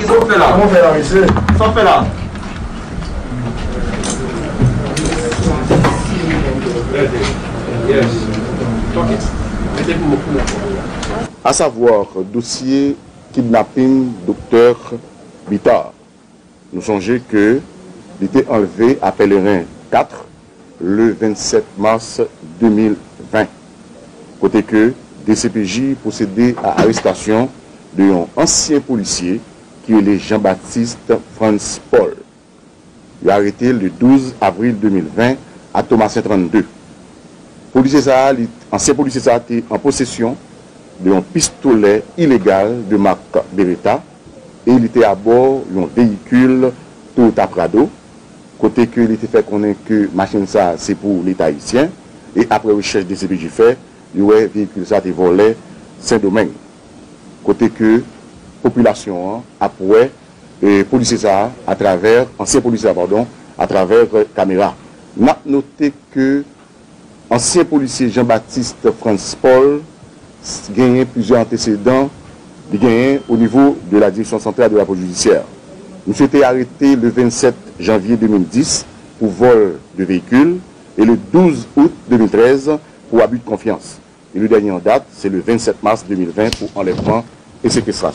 Kisa wap fè la? Kòman w fè la mesye? Sa wap fè la? A savoir dosye kidnapping Doktè Bitar. Nou sonje ke li te anlve a Pèlerin 4. le 27 mars 2020, kote ke dcpj pwosede a arestasyon de yon ansyen polisye ki rele Jean Baptiste Frantz Paul. Yo arete l le 12 avril 2020 a Thomassin 32. Polisye sa a li, ansyen polisye sa a te an posesyon de yon pistolè ilegal de mak Beretta e li te abò yon veyikil Toyota Prado kote ke li te fè konnen ke machin sa se pou leta ayisyen e aprè rechèch dcpj fè yo wè veyikil sa te vòlè sendomeng kote ke popilasyon an ap wè polisye sa atravè ansyen polisye a padon atravè kamera nap note ke Ansyen polisye Jean Baptiste Frantz Paul genyen plizyè antesedan li genyen o nivo de la Direction Centrale de la Police Judiciaire. Misye te arete le 27 janvye 2010 pou vol de veyikil e le 12 out 2013 pou abus de confiance e le dènye an dat se le 27 mas 2020 pou anlèvman e sekestrasyon.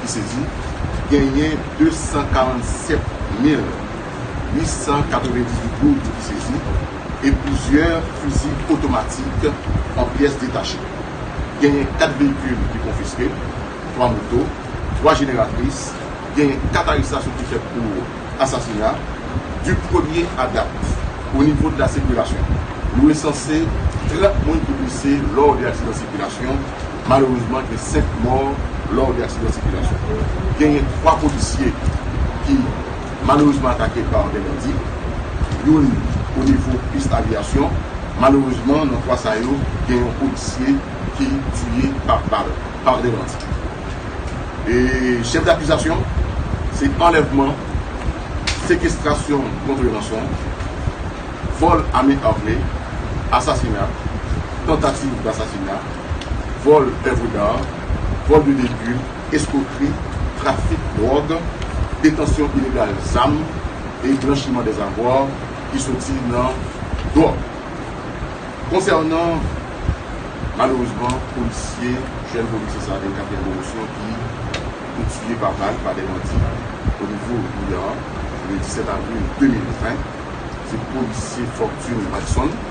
ki se di genyen 247 mil 898 goud ki se di e plizyè fizi otomatik an pyès detache. Genyen 4 veyikil ki konfiske, 3 moto, 3 jeneratris, genyen 4 arestasyon ki fèt pou asasina di premye a dat o nivo de la sikilasyon. Yo resanse 30 moun ki blese lò de aksidan sikilasyon. Malerezman gen 5 mò lò de aksidan sikilasyon. Genyen 3 polisye ki malerezman atake pa 2 bandi, youn o nivo pis aviyasyon. Malerezman nan 3 sa yo gen yon polisye ki tiye pa bal pa 2 bandi. E chèf dakizasyon se anlèvman, sekestrasyon kontre ranson, vòl a men arme, asasina, tantativ dasasina. vòl èvre dar, vòl de veyikil, eskwokri, trafik dwòg, detansyon ilegal zam e blanchiman des avoirs ki soti nan dwòg. Konsènan malerezman polisye, jèn polisye sa gen katriyèm pwomosyon ki te tiye pa bal pa de bandi o nivo Guyàn le 17 avril 2020, se polisye Fortune Watson.